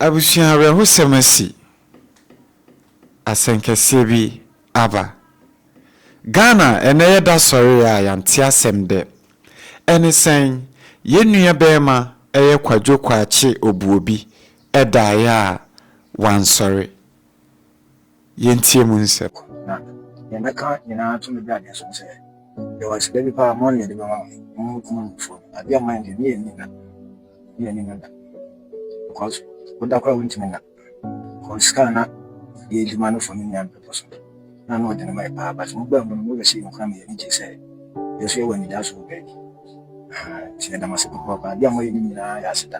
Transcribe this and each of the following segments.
Abusua awerɛhosɛm asi, asɛnkɛseɛ bi aba. Ghana ɛnɛ yɛda sɔree a yɛante asɛm dɛ, ɛne sɛn, yɛn nua bɛɛma ɛyɛ Kwadwo Kwakye Obuobi ɛdaeɛ a wansɔre, Yɛntie mu nsɛm. Na nea mɛka nyinaa to me bra deɛ so ne sɛ, yɛwɔ aseda bi paa mɔne yɛde bɛma wɔn, wɔn mu kumaa mu foɔ no, adeɛ a mɔne deɛ ne yɛ nni nna, ne yɛ nni nna da, because woda koraa wontumi nna, because sika a na yɛ adwuma no fɔ ne nua no bɛpɔ so, na na ɔde no ma yɛ paa, but mo baa mu no mo wɛ sɛ yɛn koraa ma yɛn ani gyee sɛ yɛn nso yɛwɔ anidaso wɔ baabi, ahaa, nti yɛda mo ase papaapa, adeɛ a moayɛ no nyinaa yɛ aseda.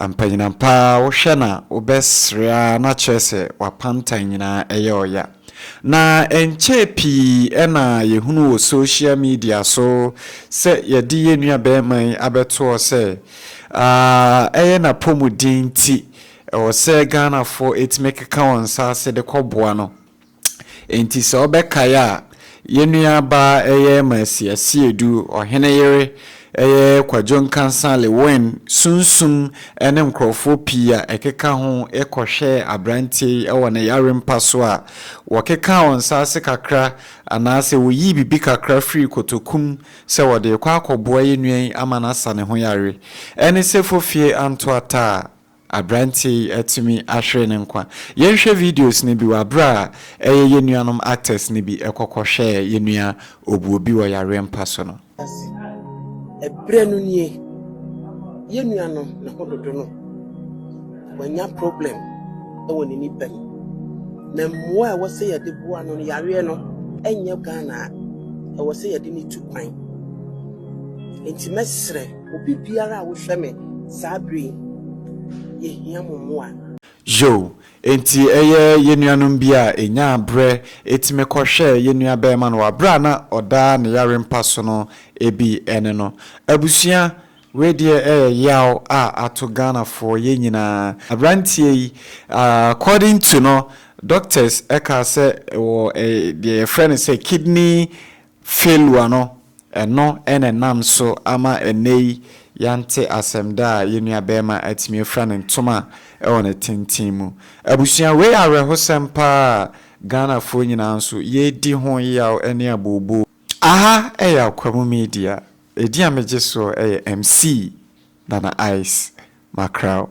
Ampanyinam paa wohwɛ na wobɛsre ara na kyerɛ sɛ w'apantan nyinaa ɛyɛ ɔya. Na ɛnkyɛɛ pii ɛna yɛhunu wɔ social media so sɛ yɛde yɛn nua bɛɛma yi abɛtoɔ sɛ aah ɛyɛ n'apɔmuden nti ɛwɔ sɛ Ghanafoɔ ɛtumi keka wɔn nsa ase de kɔ boa no. Enti sɛ wobɛkae a, yɛn nuabaa ɛyɛ Mercy Asiedu, ɔhene yere ɛyɛ Kwadwo Nkansah Lewin, Sunsum ɛne nkorɔfoɔ pii a ɛkeka ho kɔhwɛɛ abranteɛ yi wɔ ne yare mpa so a wɔkekaa wɔn nsa ase kakra anaasɛ wɔyii biribi kakra firii kotokum sɛ wɔde rekɔ akɔboa yɛn nua yi ama no asa ne ho yare ɛne sɛ Fofie Antoataa Aberanteɛ yi atumi ahwere ne nkwa. Yɛnhwɛ videos no bi wɔ aberɛ a ɛyɛ yɛn nuanom actors no bi kɔ kɔ hwɛɛ yɛn nua Obuobi wɔ yareɛ mpa so no. Ase. Ɛberɛ no nie. Yɛn nua no ne ho dodo no wanya problem wɔ ne nipa mu. Na mmoa a ɛwɔ sɛ yɛde boa no no yareɛ no ɛnyɛ Ghana a ɛwɔ sɛ yɛde no tu kwan. Enti mɛsrɛ. Obi biara a wohwɛ me saa bere yi, yehia mo mmoa. Yoh, Enti ɛyɛ yɛn nuanom bi a enyaa bere tumi kɔhwɛɛ yɛn nua barima no wɔ bere a na ɔda ne yare mpa so no bi ne no. Abusua, wei deɛ ɛyɛ yaw a ato Ghanafoɔ yɛn nyinaa. Aberanteɛ yi, according to no, doctors kaa sɛ wɔ deɛ yɛfrɛ no sɛ kidney failure no Ɛno na ɛnam so ama ɛnnɛyi yɛante asɛm da a yɛn nuabarima atumi afura ne ntoma wɔ ne tenten mu. Abusua, wei yɛ awerɛhosɛm paa a Ghanafoɔ nyinaa nso yɛredi ho yaw ne abooboo. Aha yɛ Akwamu Media, edin a megye soɔ yɛ MC Nana Ice Mackerel.